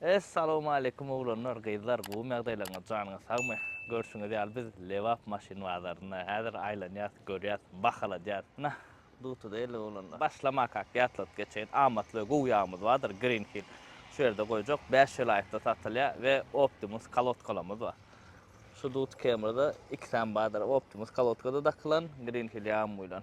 Es salowmaleýkum oglanlar gyzlar gowymy ýagdaýlaryňyz janyňyz sagmy görşüňiz ýaly biz Lebap maşyn bazarynda häzir aýlanýas görýäs bahaladýas nah duty däldir oglanlar başlamakak ýatladyp geçeýin amatly we gowy ýagymyz bardyr green hill şu ýerde goýjak bäş welaýatda satylýar we optimus kolodkalarymyz bar şu duty kemrda ikisem bardyr optimus kolodkada dakylan green hill ýagymy bilen.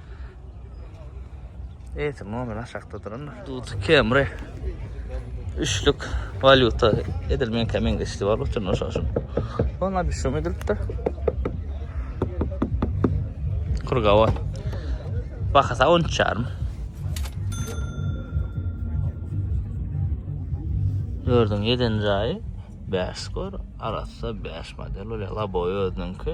Eýse muňa aşakda duranlar. Duty Camry. Üçlük valyuta edilmeýän kemen geçdi bar üçin şo şun. Ona bir şum edilipdir. Kurgawa. Bahasa 10 çarm. Gördüň, yeden jaýy 5 skor, arassa 5 model, ola laboy özüniňki.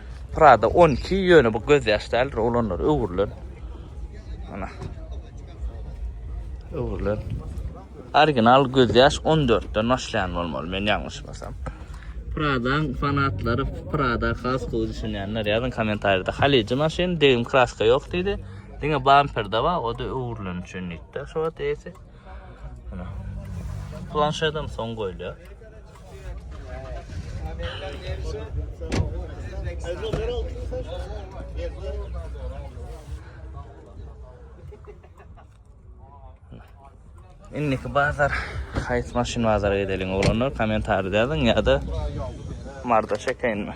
Prada 12 ýöne bu göz ýaş däldir oglanlar öwrülen. Ana. Öwrülen. Original göz ýaş 14 den başlaýan bolmaly men ýalňyşmasam. Pradaň fanatlary Prada has gowy düşünýänler ýazyň kommentariýada. Halyjy maşyn degim kraska ýok diýdi. Diňe bamperde bar, o da öwrülen üçin diýdi. Şu wagt ýesi. Planşetem soň goýulýar. Indiki bazar haýsy maşyn bazara gidelim oglanlar komentarda ýazyň ýa-da marda çekeýinmi?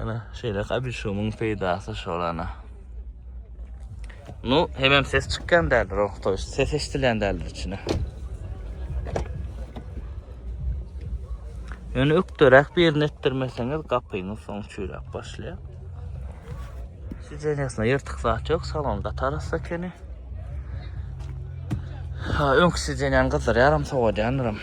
Ana şeýle kabişumyň peýdasy şol ana. Nu, hemem ses çykýan däldir, orta ses eşidilýän däldir içine. Ýöne ökderäk birini etdirmeseňiz gapyňyz soň çüýräp başlaýar. Sidenýasyna ýyrtyk zat ýok, salon gatarasy ekeni. Ha, öňki sidenýany gyzdyrýaram, sowadýandyram.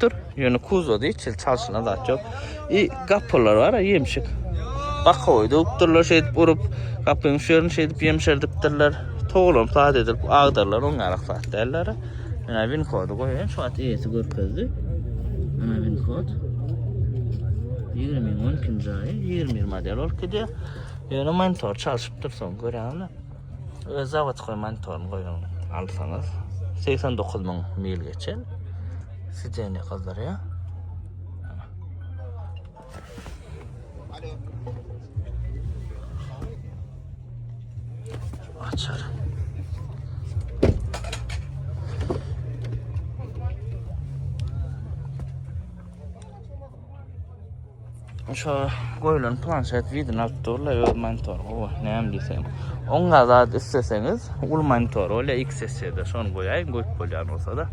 dur. Ýöne kuzowda hiç hili çalşyna zat ýok. I gapylar bar a ýemşik. Bakowy döwüpdirler şeýdip urup, gapyň şu ýerini şeýdip ýemşerdipdirler. Toglam saz edilip agdarylan oň ýalak zat däldir. Menä win kody goýaýyn şu wagt eýesi görkezdi. Menä win kod. 20 12-nji aýy 20 model bolup gidýär. Ýöne monitor çalşypdyr soň görýäňmi? Öz zavodkoý monitoryny goýuň. Alsaňyz 89 müň mil geçen. Sideniýe gyzdyrýar. Açar. Şu goýulan planşet widini alyp durlar, öz monitory. O, näme diýsem. Oň gazat isleseňiz, uly monitor, ol XSC-de şony goýaýyň, goýup bolýan bolsa-da.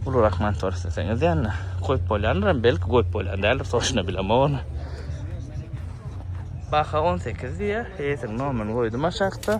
Uly rak monitor isleseňiz, ýa-da goýup bolýandyr, hem belki goýup bolýan däldir, sorşuna bilemok ony. Baha 18 diýýär, eýesiniň nomerini goýdum aşakda.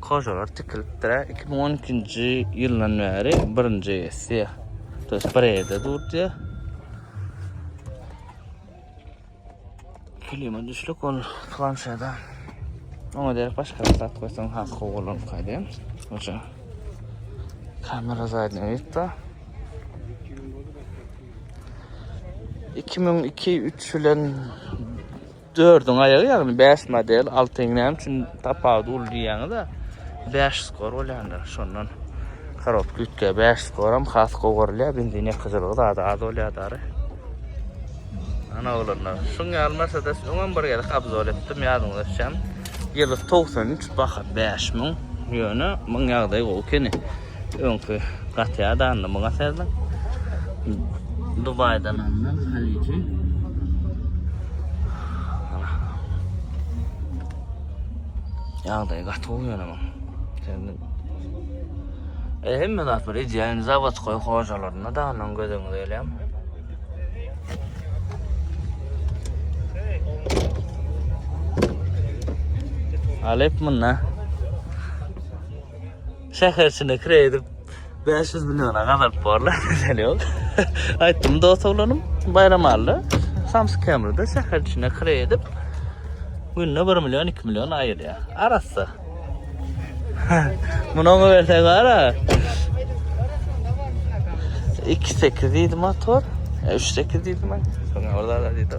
Kojalar tikilipdir-ä. Iki müň on ikinji ýyldan bäri birinji essiýa. To ýest bir ýerde durdy. Klima düşlük ol planşada. Oňa derek başga bir zat goýsaň has gowy bolarmy kaýdym. Oça. Kamera zadny öýtde. 2002-3 bilen Dördüň aýagy ýagny bäş model altyň näme üçin tapawudy uly diýýäňiz-ä. Bäş skor bolýanda şondan korobka üýtge bäş skoram has gowy görülýär benzin ýakyjylygy zada az bolýar dary. Ana oglanlar şuň ýaly mersedes öňem bir gezek obzor etdim ýadyňyza düşýämi. Ýylysy togsan üç baha bäş müň ýöne muň ýagdaýy gowy ekeni. Öňki gaty ýadandy muňa sezdim. Dubaýdan alnan haliji. Ýagdaýy gaty gowy ýöne muň. Sezdim. E, hemme zat bir ideýany zawodskoý hojalarynda da ondan göz öňüne gelýärmi? Alep munda. Şäher içinde kire edip 500 milliona gazalyp borlar. Mesele yok. Aytdym dost oglanım Bayramalda Samsung Camry'da şäher içinde kire edip günde 1 milyon 2 milyon ayırýar. Arassa. Bunu ona versen var ha. 2.8 deydi motor. 3.8 deydi ben. Sonra orada da deydi.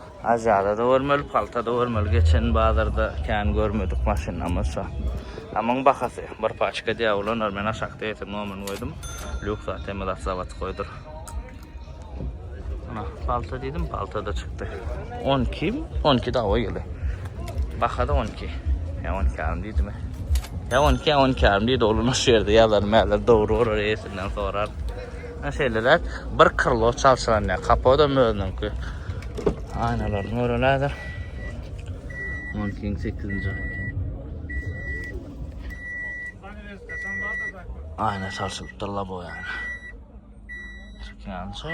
Aziýada-da görmeli, palta-da görmeli. Geçen bazarda kän görmedik maşynamyz şo. A muň bahasy bir paçka diýýä ulanlar. Men aşakda ýetim nomyryny goýdum. Lýuks ATM-de zawod goýdur. Ana, palta diýdim, palta-da çykdy. 12, 12 dawa ýyly. Baha-da 12. Ýa 12 ýarym diýdimi? Ýa 12, ýa 12 ýarym diýdi. Oluna şu ýerde ýazar, mäler dogry bolar, eýesinden sorar. Ine şeýleräk bir krlo çalşyranýar. Kapodam özüniňki. Aýnalaryny göreli häzir. Onkiň 8-nji. Aýna çalşylypdyr labo ýaly. Türkmençe.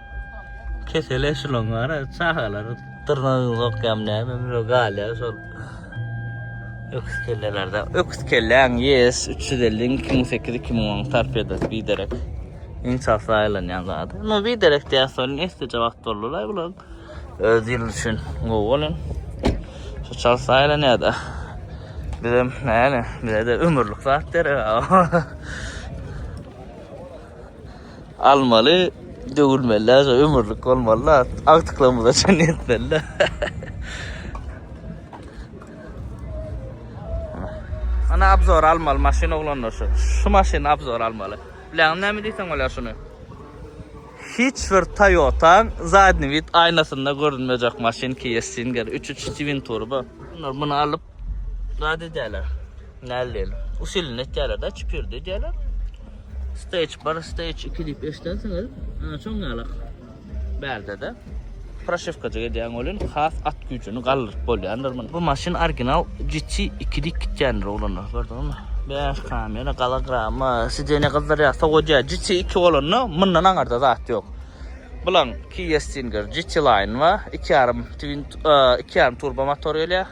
Kesel eşilon gara çagalar dyrnagyny sokýam näme bile galýa şol. Öküz kellelerde. Öküz kelläň yes 350 2008 2010 sarp eder biderek. Iň çasla aýlanýan zady. No biderek diýär soň esdeje wagt boldular bular. Öz ýyl üçin gowy bolan. Şu çasla aýlanýar da. Bizem näle, bizede ömürlik zat der. Almaly döwülmelä şo ömürlik bolmalyla agtyklarymyza çen ýetmelila. Ana abzor almaly maşyn oglanlar şu. Şu maşyny abzor almaly. Biläňmi näme diýseň bolýar şuny? Hiç bir Toyota zadny vid aýnasynda görünmejek maşyn Kia Stinger 3.3 twin turbo. Muny alyp Zat edýärler. Näl diýeli? Usilini etýärler da, çipirdi edýärler. Stage 1, stage 2 diýip eşidensiňiz, ana şoň ýaly bärde-de. Proşewkajyk edýän welin has at güýjüni galdyryp bolýandyr muny. Bu maşyn original GT 2 diýip gitýändir oglanlar, gördüňizmi? Bäş kamera, golograma, sidenýe gyzdyrýar, sowadýar. GT 2 bolanda mundan aňyrda zat ýok. Bulaň Kia Stinger, GT Line bar, 2,5 twin, 2,5 turbo motor gelýär.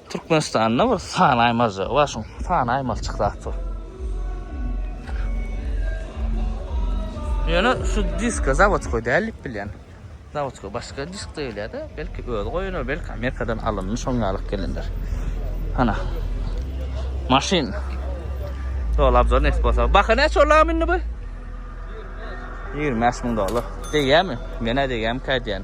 Türkmenistanda bir san aýmaljygy bar, şuň sany aýmaljyk zat bu. Ýöne şu diska zawodskoý däl diýip bilýän. Zawodskoý başga disk diýilýär-de, belki özi goýandyr, belki Amerikadan alyndy, şoňa alyp gelindir. Hana. Maşyn. Ýol abzor nesip bolsa. Baha näçe ol lagym indi bu? 25 müň dollar. Degýärmi? Menä degýärmikä diýýän.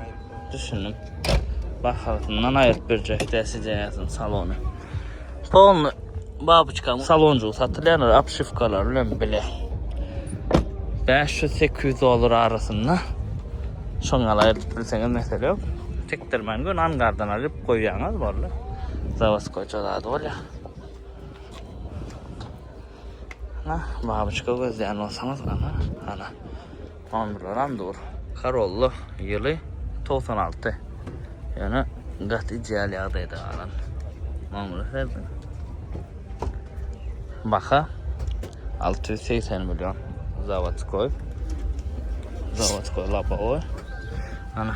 Düşündim. Bahasyndan aýryp berjek däsijeýäsin salony. Polny babuçkam salonjygy satylýar, apşywkalar bilen bile. 500-800 dollar arasynda. Şoň aýryp bilseňiz mesele ýok. Tikdirmän gün angardan alyp goýýaňyz boldy. Zawoskoýça zady bolýar. Nah, babuçka gözleýän bolsaňyz, ana, ana. Omurlaram dur. Corolla ýyly togsan alty. Ýöne gaty ideal ýagdaýda galan. Mamuly ferdi. Baha alty ýüz segsen million. Zawodskoý. Zawodskoý lobowy. Ana.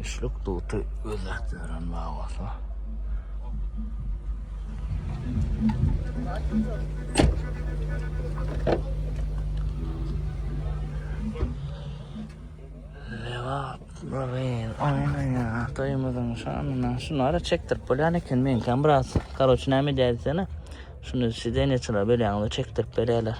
Üçlük duty gözläp ýören bagasy. Lewat Nuryn, oýnaýa, toýumyzyň şanyna. Şunu ara çekdirip bolýan eken, meňkäm biraz. Karoç, näme diýäýsene? Şunu sidenýeçilere bölýäňiz, çekdirip berýärler.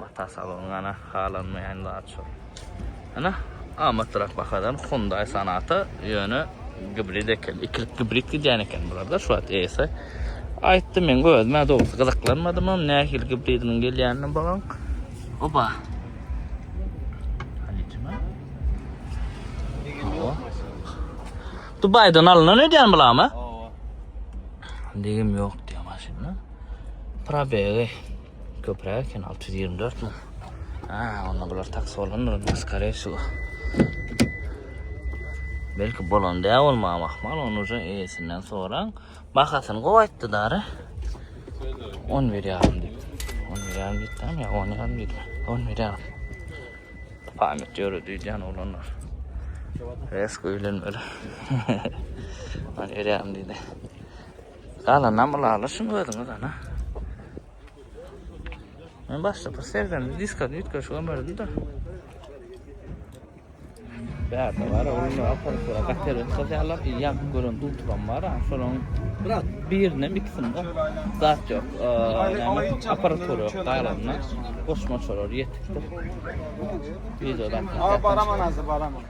Bata salon ana halanmayan zat şu. Ana amatrak bahadan Hyundai Sonata yöne gibrid eken. İkilik gibrid gidýän eken bularda şu wagt ese. Aýtdym men özüme dogusy gyzyklanmadym hem nähili gibridiniň gelýänini bagan. Oba. Halicime. Dubaydan alynan ödýän bulama? Oba. Digim ýok diýýär maşynyň. Probegi Köpüräk eken 624 mi? Ha, onda bular taks bolgandyr onda skare şu. Belki bolan dä bolma mahmal onu uca eýesinden soraň. Bahasyny gowy aýtdy dary. 11 ýarym diýip. 11 ýarym diýip däm ýa 10 ýarym diýip. 11 ýarym. Pamyt ýöre diýýän oglanlar. Resko öýlenmeli. 11 ýarym diýdi. Galanam ylalaşyň özüňiz ana. Men başda bir sergende diska üýtgeşik ömerdi-de. Bärde bar, onuň aparatlara gaterin sazýarlar, ýap gören dultubam bar, şolaň birine ikisinde zat ýok. Aparatura ýok galanynda, goşmaçalar ýetikdir. Wideoda. Aa, baraman hazir, baraman.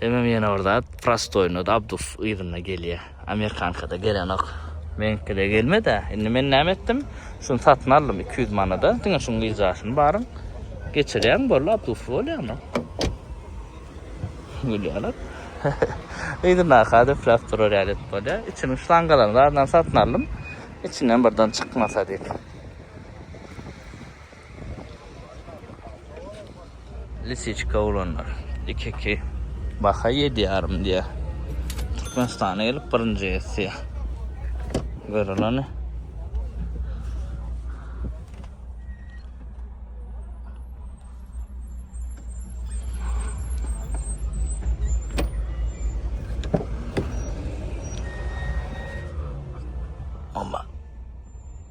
Hemem ýene bir zat, prostoýunda da abdus yzynda gelýär. Amerikankada gelenok. Meniňkide gelmedi-ä. Indi men näme etdim? Şuny satyn aldym iki ýüz manada. Diňe şuň wizasyny baryň geçirýäň, boldy, abdusly bolýar-da. Gülýärler. Yzyndaky-a döpläp durar ýaly edip bolýar. Içiniň şlangalaryny zadyndan satyn aldym. Içinden birden çykmasa diýip. Lisiçka oglanlar iki iki baha ýedi ýarym diýýär. Türkmenistana gelip birinji ýetýär. Görüleni. Ama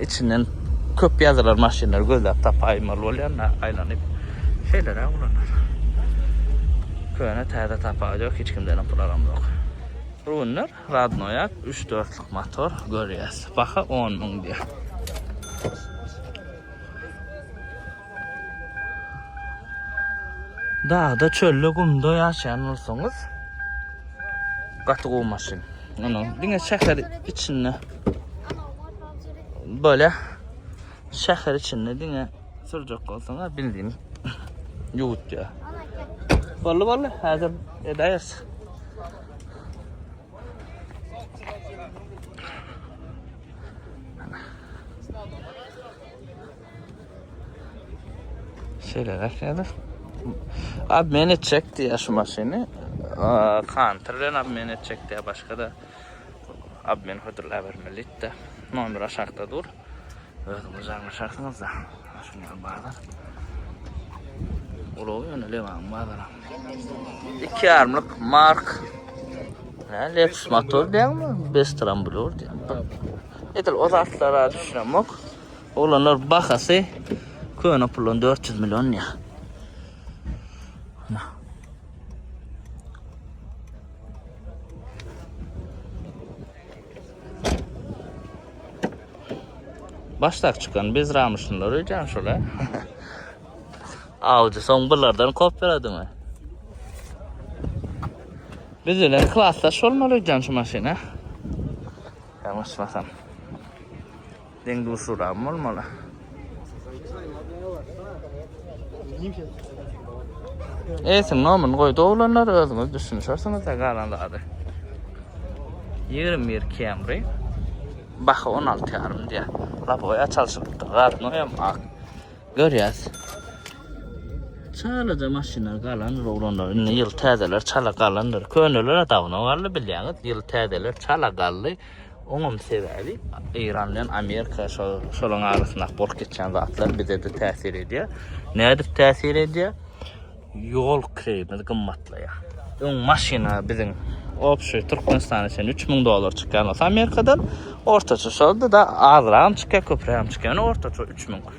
Içinden köp ýazylar maşynlary gözläp tapaýmaly bolýan-da aýlanyp. Şeýleräk ulanar. Köne täze tapawudy ýok, hiç kimden hem pul alamzok. Ruinler radnoýak, üç dörtlük motor görýäs. Baha on müň diýýär. Dagda, çölde, gumda ýaşaýan bolsaňyz, gaty gowy maşyn. Ýöne diňe şäher içinde böyle şäher içinde diňe sürjek bolsaň, bildiň. Ýuwut ýa. Bolly bolly, häzir edäýeris. Şeýle nähilidir? Obmen etjek diýýär şu maşyny. Kantor bilen obmen etjek diýýär, başga da obmen hödürläp bermeli diýdi. Nomer aşakda dur. Özüňiz aňlaşarsyňyz da. Şuny alyp bazar. Ulag ýöne Lewan bazara. 2 ýarymlyk mark. Nä, Lexus motor diýýärmi? Bestramblur diýýär. Edil o zatlara düşünemok. Oglanlar bahasy köne pulun 400 milyon ya. Başlak çıkan biz ramışınlar öýdän şola. Avcı son bulardan kop beredi mi? Biz öyle klasdaş olmaly öýdän şu maşyna. Yanlışmasam. Deň duşuragym bolmaly. Esiň nomyny goýdy oglanlar, özüňiz düşünişersiňiz-de galan zady. 21 Camry. Baha 16 ýarym diýýär. Laboýa çalşylypdyr, garnoýam ak. Görýäs. Çalaja maşynlar galandyr oglanlar. Indi ýyl täzeler çala galandyr. Köneler-ä dawno galdy bilýäňiz. Ýyl täzeler çala galdy. Oňam sebäbi Eýran bilen Amerika şolaryň arasyndaky bolup geçýän zatlar bize-de täsir edýär. Nädip täsir edýär? Ýol kireýimiz gymmatlaýar. Öň maşyna biziň obşy Türkmenistan üçin 3000 dollar çykýan bolsa Amerikadan ortaça şolda da azragam çykýar, köprägem çykýar. Ýöne ortaça 3000.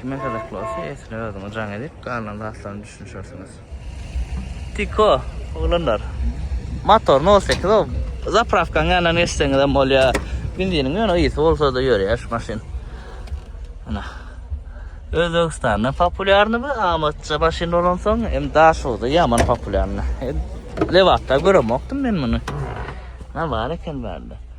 Kime gyzykly bolsa esini özüňe jaň edip galan zatlaryny düşünişersiňiz. Tiko oglanlar. Motor 08 o. Zapravkaň ýanyna geçseňiz hem bolýar. Benziniň ýöne ýygy bolsa-da ýörýär şu maşyn. Ana. Özbegistanda populýarny bu amatça maşyn bolansoň hem Daşoguzda ýaman populýarny. Lebapda göremokdym men muny. Ha bar eken bärde.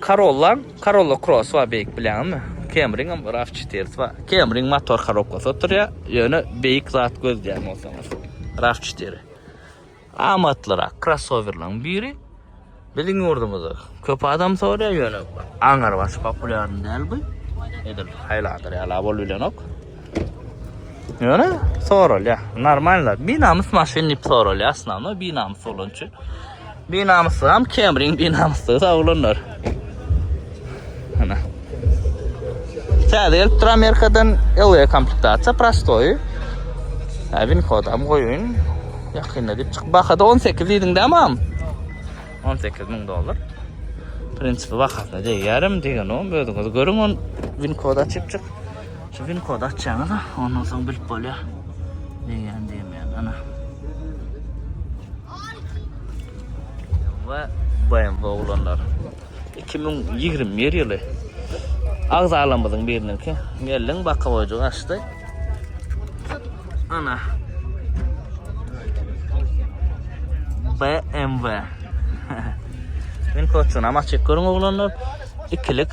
Karollaň Karolla Kross bar beýik bilýäňizmi? Kemriňem raw çetirisi bar. Kemriň motor korobkasy oturýar, ýöne beýik zat gözleýän bolsaňyz, raw çetiri. Amatlyrak krossowerlaryň biri. Biziň ýurdumyzda köp adam soraýar, ýöne aňyr baş populýarny däl bu. Edil Highlander ýala bolup bilenok. Ýöne soralýar. Normalny, binamys maşyn diýip soralýar, asnawno binamys bolany üçin. Binamyslygam kemriň binamyslygy sag olanlar. Ana. Täze gelip duran Amerikadan LV komplektasiýa prostoý. Äbin kodam goýun. Ýakynda diýip çyk. Bahada 18 diýdiň dämam. 18 ming dollar. Prinsipi bahasyna deýärim diýen o. Özüňiz görüň on win kod açyp çyk. Şu win kod açýaňyz, ondan soň bilip bolýar. Diýen diýmeýän. Ana. we BMW oglanlar. 2021 ýyly agzalarymyzyň biriniňki gelin bakawoýjyk açdy. Ana. BMW. Men koçuna maçyk görüň oglanlar. Ikilik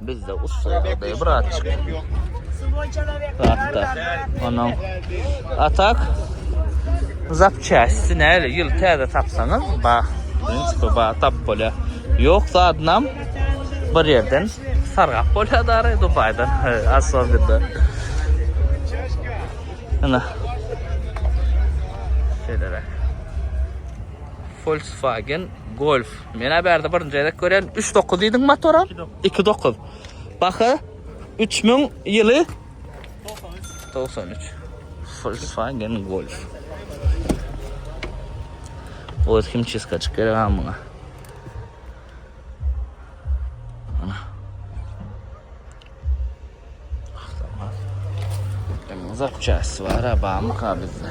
Bizde ussa ýagdaýy bir at çykdy. Atda. Onuň atak zapçästi näle ýyl täze tapsaňyz ba birinji ba tap bolýar. Ýok zadynam bir ýerden sargap bolýar dary Dubaýdan asobinda. Ana. Şeýleräk. Volkswagen Golf Menä bärde birinji gezek gören 39 diýdiň motora? 29. Baha 3000 ýyly 93. Volkswagen Golf. Oz kim çizka çıkar ha buna. Ana. Uzak çarşısı var ha, bağımı bizde.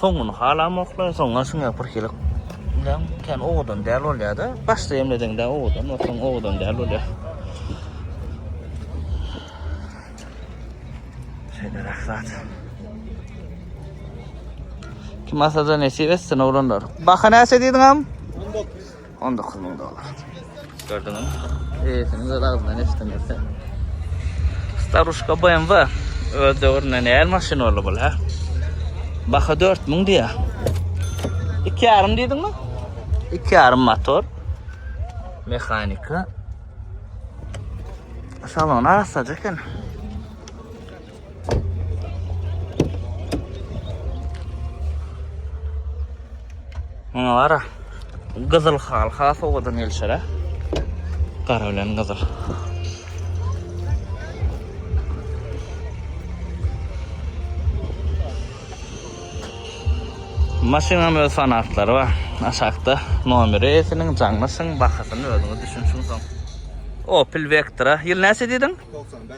Soňuny halamoklar, soňuna şuňa pirkilik bilen kän owadan däl bolýar-da. Başda emleseň-de owadan, soň owadan däl bolýar. Şeýle rahat. Kim asada nesip etsin oglanlar. Baha näçe diýdiňem? 19. On dokuz müň dollar. Gördüňiz? Eýesini öz agzyndan eşidiňizse. Staruşka BMW. Öz döwründe näl maşyn boldy bul, hä? Baha 4000 diýä. 2,5 diýdiňmi? 2,5 motor. Mehanika. Salon arassaja eken. Muňa gara. Gyzyl hal has owadan gelşer ha. Gara bilen gyzyl. Maşynyň öz fanatlary bar. Aşakda nomeri esiniň jaňlaşyň bahasyny özüňiz düşünşiň soň. Opel Vectra. Ýyl näçe diýdiň? 95.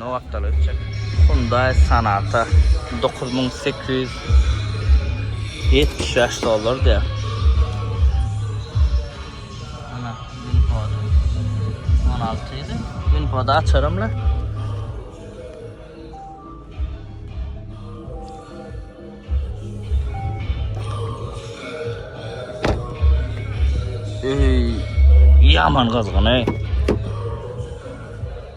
Nowakdaly ötjek. Hyundai Sonata dokuz müň sekiz ýüz ýetmiş bäş dollar diýýär. Ana, Winpod. On alty ýedi. Winpod açarymla. Ey, yaman kızgın ey.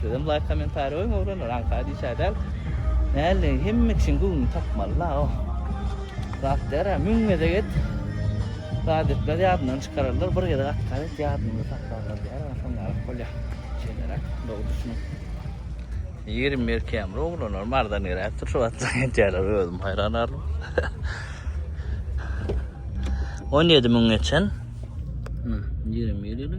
Sizem laýk komentariý goýuň oglanlar aňka diýşä däl. Näleýin hemme kişiň göwnüni tapmaly la oh. Rast ýara müň gezek et. Zat etmez ýadyndan çykararlar bir gezek atkar et ýadynda saklarlar ýara soň galyp bolýa. Şeýlere dogy düşüniň. Ýerim merkämir oglanlar mardan geräpdir şu wagtlar entýäler özüm haýran arlym. 17 müň geçen. Ýerim ýeli.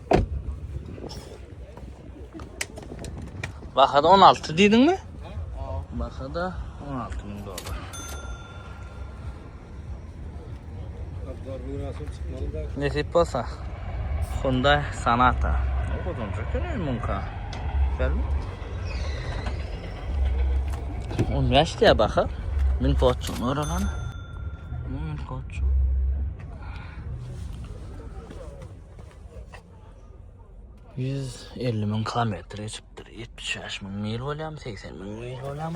Bahada 16 diýdiň mi? Bahada 16 ming dollar. Nesip bolsa. Hyundai Sonata. Ne bozulacak ne mumka. Gel. 15 diye baka. Min koçu. Ne oralan? Min koçu. 150 müň kilometr geçipdir. 75 müň mil bolam, 80 müň mil bolam.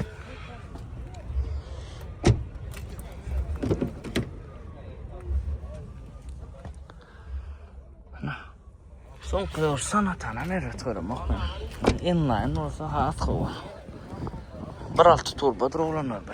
Son kılıyor sana tane meret görüm yok mu? Inline olsa hat kova. Bir altı turbadır olanlar be.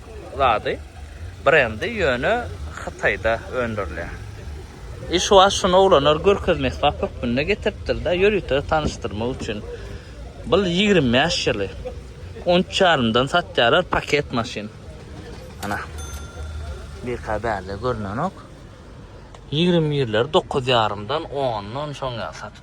zady, brendi ýöne Hytaýda öndürilýär. I şu wagt şuny oglanlar görkezme esbap hökmünde getiripdirda ýörite tanyşdyrmak üçin. Bul ýigrimi bäş ýyly. On üç ýarymdan satýarlar paket maşyn. Ana. Birka bärde görnenok. Ýigrimi ýyllar dokuz ýarymdan ondan şoň ýaly satyp.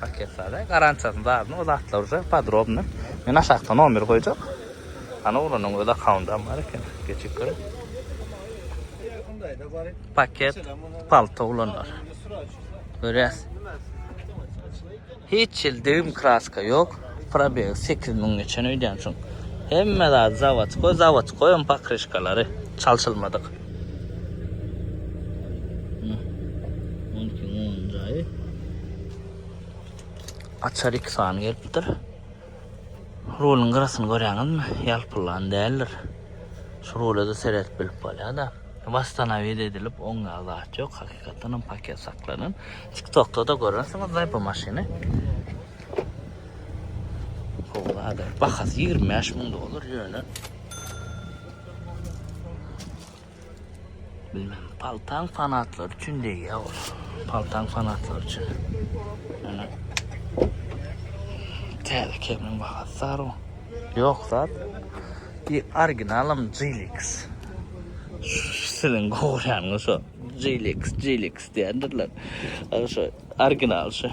Paketlarda garantiýasyny zadyny o zatlar uje podrobny. Men aşakda nomer goýjak. Ana oglanyň öz akkaundam bar eken. Geçip görüň. Paket palto oglanlar. Görýäs. Hiç ýyl degim kraska ýok. Probeg 8000 geçen öýdýän şuň. Hemme zady zawodskoý, zawodskoý hem pokryşkalary çalşylmadyk. Açar iki sany gelipdir. Rulun gyrasyn görýäňizmi? Ýalpylan däldir. Şu rula da seret bilip bolýada. Wastanawid edilip oňa zat ýok. Hakykatdan hem paket saklanan. TikTokda da görersiňiz da bu maşyny. Howada. Bahasy 25 ming dollar ýöne. Bilmem, paltaň fanatlary üçin degýär ol. Paltaň fanatlary üçin. Ana. Täze kemiň bahasy sary. Ýok zat. Ki originalam Jilix. Siziň gowurýanyňyz şo. Jilix, Jilix diýendirler. Ana şo original şo.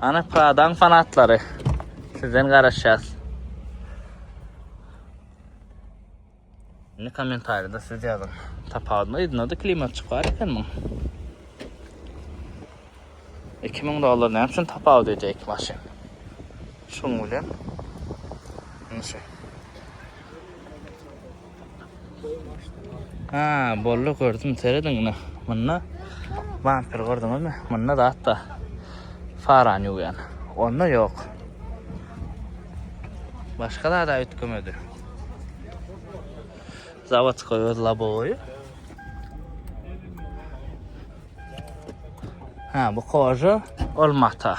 Ana Pradaň fanatlary. Sizden garaşýas. Ne komentarýada siz ýazyň. Tapawudyny ýygnady klimat çykar eken muň. 2000 dollar näme üçin tapawut edýär iki maşyn? Şuň bilen. Nuşe. Ha, bolly gördüm. Serediň ine. Munda vampir gördüňizmi? Munda da hatta faran ýuwýan. Onda ýok. Başga da da ütkümedi. Zawod goýuz labowy. Ha, bu koža olmata.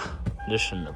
Düşündim.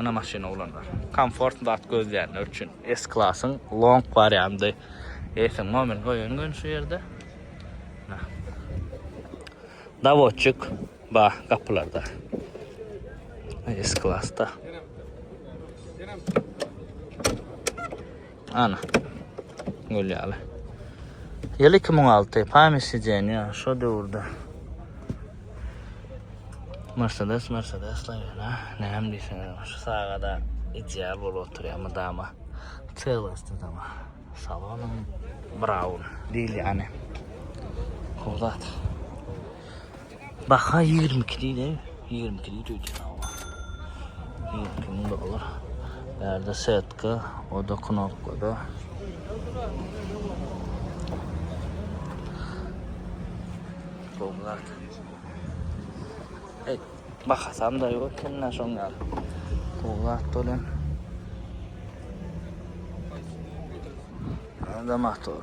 Ina maşyny oglanlar. Komfort zat gözleýänler üçin. S klasyň long warianty. Eýsem mobil goýan gün şu ýerde. Dawotçik ba gapylarda. S klasda. Ana. Gül ýaly. Ýyl 2006, pamýat sideniýa, şo döwürde. Mercedes, Mercedes laýyna, näme diýseňiz, şu sagada ideal bolup oturýar mydama. Çelgysdy dama. Salonum brown, diýilýäni. Howzat. Baha ýigrimi iki diýdi, ýigrimi iki diýdi öýdýän hawa. Ýigrimi iki müň dollar. Bärde setka, o-da knopkada. Gowlat. Ey, bahasam da ýok eken-de şoň ýaly. Gowlat dolan. Anda motor.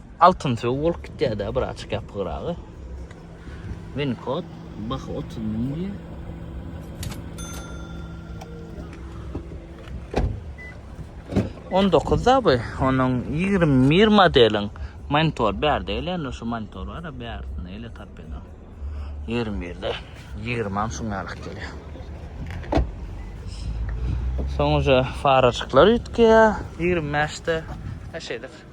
Altyn söw bolup gitýäda bir açyk ýapygyragy. Win kod bah 30 müň diýýär. On dokuz da bu, onuň ýigrimi bir modeliň monitor bärde gelen, şu monitor bar, bärsini ele tapýan. Ýigrimi birde, ýigrimam şuň ýalyk gelýär. Soňuja faraçyklar üýtgeýär, ýigrimi bäşde, şeýle.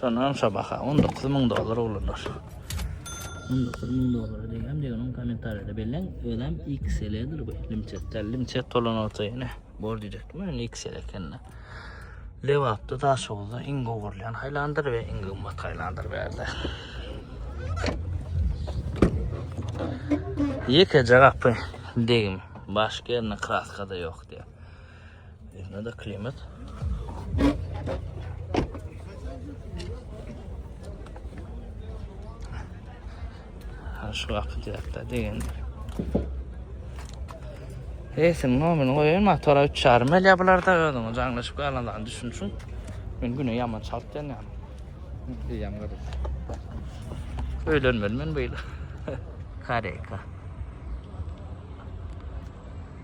Şondan şu baha 19 müň dollar oglanlar. 19 müň dollar diýen diýen kommentariýada bellen özem XL-dir bu. Limçet, limçet tolan olsa ýene bor diýjekdim men XL ekende. Lewapda Daşoguzda iň gowy görlen haýlandyr we iň gymmat haýlandyr berde. Ýekeje gapy degim, başka ýerinde kraska da ýok diýýär. Ýöne-de klimat. Ha şu gapy diýerdi degen. Eýsin nomini goýaýyn, motora 3,5 milýa bularda özüňe jaňlaşyp galandan düşünşiň. Men güne ýaman çalt dönýän. Diýýän görüp. Öýlenmeli men bu ýyl. Kareka.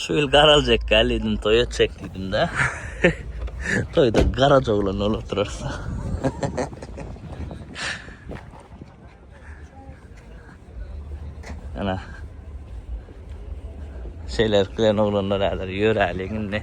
Şu ýyl garaljak gälidim toý etjek diýdim de. Toýda garaja oglan bolup oturarsa. Ana. Şeyler bilen oglanlar ýalar ýöräliň indi.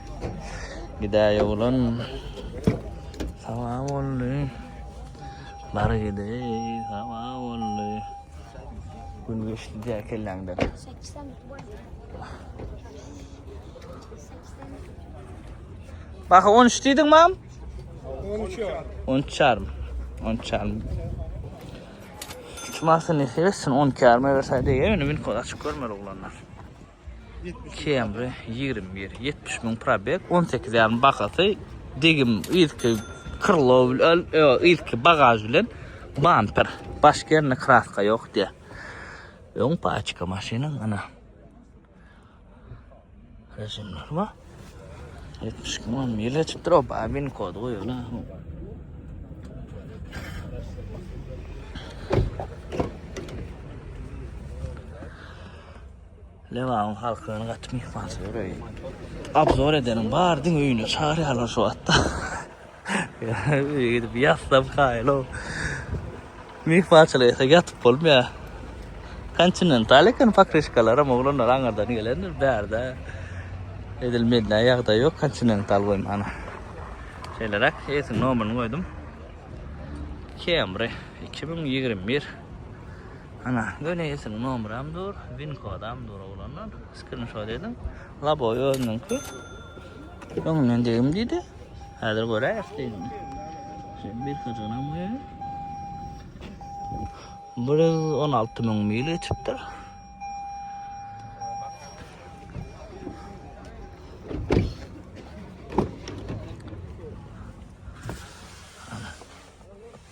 Gidäý oglan. Saba boldy. Bar gidäý. Saba boldy. Gün geçdi diýä kelläňden. Bak 13 diýdiň mam? 13 ýar. 13 ýarym. 13 ýarym. Şu masyny seretsin 12 ýaryma berse diýýär, indi mün kod açyk görmeli oglanlar. Camry ýigrimi bir, ýetmiş müň probeg, on sekiz ýarym bahasy, degim yzky krlow bilen, ýok, yzky bagaž bilen, bamper, baş gerne kraska ýok diýýär. Öň paçka maşynyň, ana. Režimler bar. Ýetmiş iki müň mil geçipdir, o babin kod goýula. Lebabyn halkyna gaty myhmançylyk bereý. Abzor edenim bar diň öýüne çagyrýarlar şu wagtda. Öýe gidip ýatlap kaýylo. Myhmançylyk etse ýatyp bolmaýar. Kontinental eken pokrişkalaram oglanlar aňyrdan gelendir bärde. Edil mende ýagdaý ýok kontinental goýmana. Şeýleräk esiň nomerini goýdum. Camry 2021 Ana, göni esiniň nomeram dur, win kodam dur oglanlar. Skrinşot ediň. Laboy özüniňki. Öňünden degim diýdi. Häzir göräýs diýdim. Şeýle bir kajanam bu. 116 müň mil geçipdir.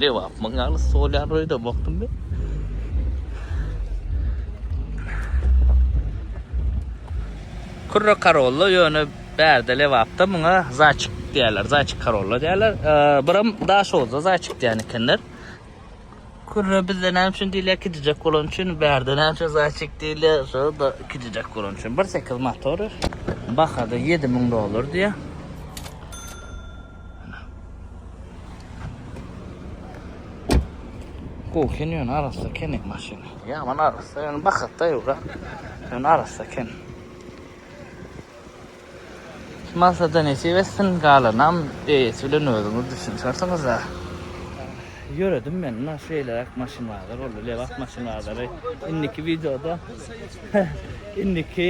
Lebapmyň ýaly stol ýaly öýde bokdum men. Kürre karolla ýöne bärde lebapda muňa zaçyk diýerler. Zaçyk karolla diýerler. Biram daşozda zaçyk diýen ekenler. Kürre bizde näme üçin diýilýär? Kijijek bolan üçin. Bärde näme üçin zaçyk diýilýär? Şo da kijijek bolan üçin. 1.8 motory. Bahada 7000 dollar diýýär. Gowy eken ýöne arassa eken maşyn. Ýaman arassa ýöne bahatda ýura. Ýöne arassa eken. Maksada nesip etsin, galanam eýesi bilen özüňiz düşünişersiňiz-ä. Ýöredim men mundan şeýleräk maşynlarda boldy lebap maşynlary indiki wideoda indiki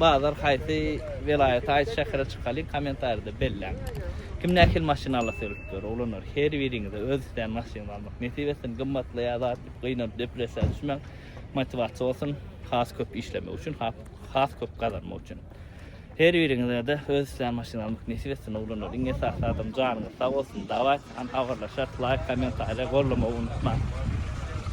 bazar haýsy welaýata haýsy şähere çykalyň kommentarýada belläň kim nähili maşyn alasy gelip dur oglanlar her biriňize öz islän maşynyňyzy almak nesip etsin gymmatly ýa zat diýip gynanyp depressiýa düşmäň motiwasiýa bolsun has köp işlemek üçin has köp gazanmak üçin. Her biriňizede öz islän maşynaňyz nesip etsin oglanlar iň esasy adam janyňyz sag bolsun daway agyrlaşarys laýk kommentariýa gollamagy unutmaň.